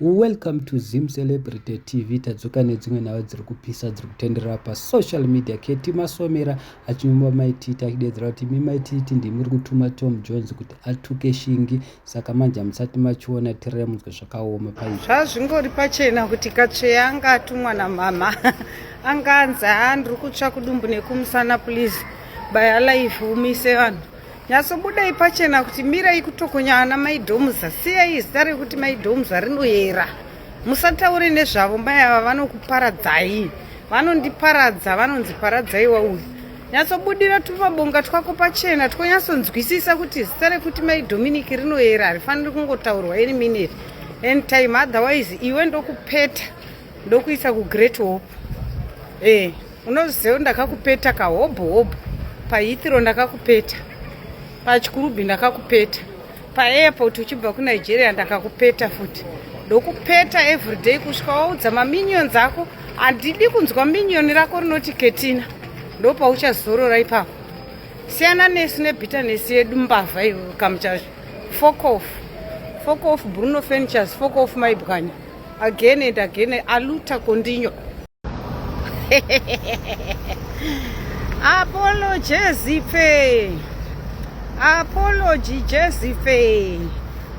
Welcome to Zim Celebrity TV. Tadzoka nedzimwe nhau dziri kupisa dziri kutenderera pasocial media. Keti Masomera achinyumba maititi achidedzera kuti imi maititi ndimi muri kutuma Tom Jones kuti atuke Shingi saka manje hamusati machiona tirere munzwe zvakaoma pai. Zvazvingori pachena kuti Katsveya anga atumwa namama anga anzi haa ndiri kutsva kudumbu nekumusana please by alive umise vanhu Nyatsobudai pachena kuti mirai kutokonya ana mai Domuza. Siyai zita rekuti mai Domuza rinoyera. Musataure nezvavo mai ava vanokuparadzai. Vanondiparadza vanonzi paradzai wauyu. Nyatsobudira tupabonga twako pachena twonyatsonzwisisa kuti zita rekuti mai Dominic rinoyera harifaniri kungotaurwa any minute. Anytime otherwise iwe ndokupeta. ndokuisa kugreat hope e unoziva ndakakupeta kahobho hobho pahithiro ndakakupeta pachikurubi ndakakupeta paairport uchibva kunigeria ndakakupeta futi ndokupeta everyday kusvika waudza maminions ako handidi kunzwa minion rako rinoti ketina ndopauchazorora ipapo siyana nesu nebitanesi yedu mbavha iwe kamuchazvo fokof fokof bruno furnitures fokof maibwanya again and again aluta kondinyo apolo jezife apology jezife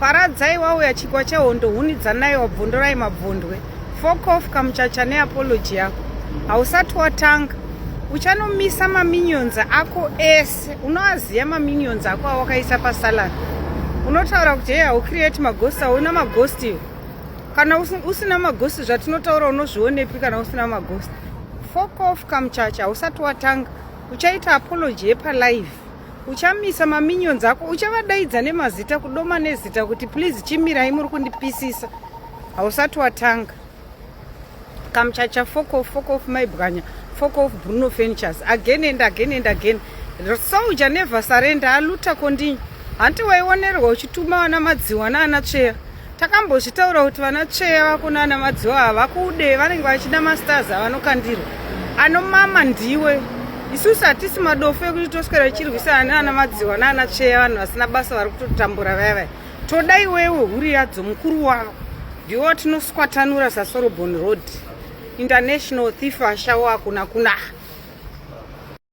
paradzai wauya chikwa chehondo huni dzanai wabvondorai mabvondwe fokof kamuchacha neapology yako hausati watanga uchanomisa maminions ako ese unoaziva maminions ako awakaisa pasalad unotaura kuti hei haucreate magosti auna magosti kana usina maghost zvatinotaura unozvionepi kana usina maghost fok off kamuchacha hausati watanga uchaita apology yepalive uchamisa maminions ako uchavadaidza nemazita kudoma nezita kuti please chimirai muri kundipisisa hausati watanga kamchacha foko foko maibwanya foko bruno furnitures again and again and again soldier never surrender aluta kondinyi hanti waionerwa uchituma vana madziwa naana tsveya takambozvitaura kuti vana tsveya vako naana madziwa havakude vanenge vachida mastars avanokandirwa anomama ndiwe isusu hatisi madofo ekuti toswera tichirwisana naana madziwa naana tsveya vanhu vasina basa vari kutotambura vaya vaya toda iwewe huri yadzo mukuru wavo ndiwo watinoswatanura sasorobon road international thief ashawo akuna kunaha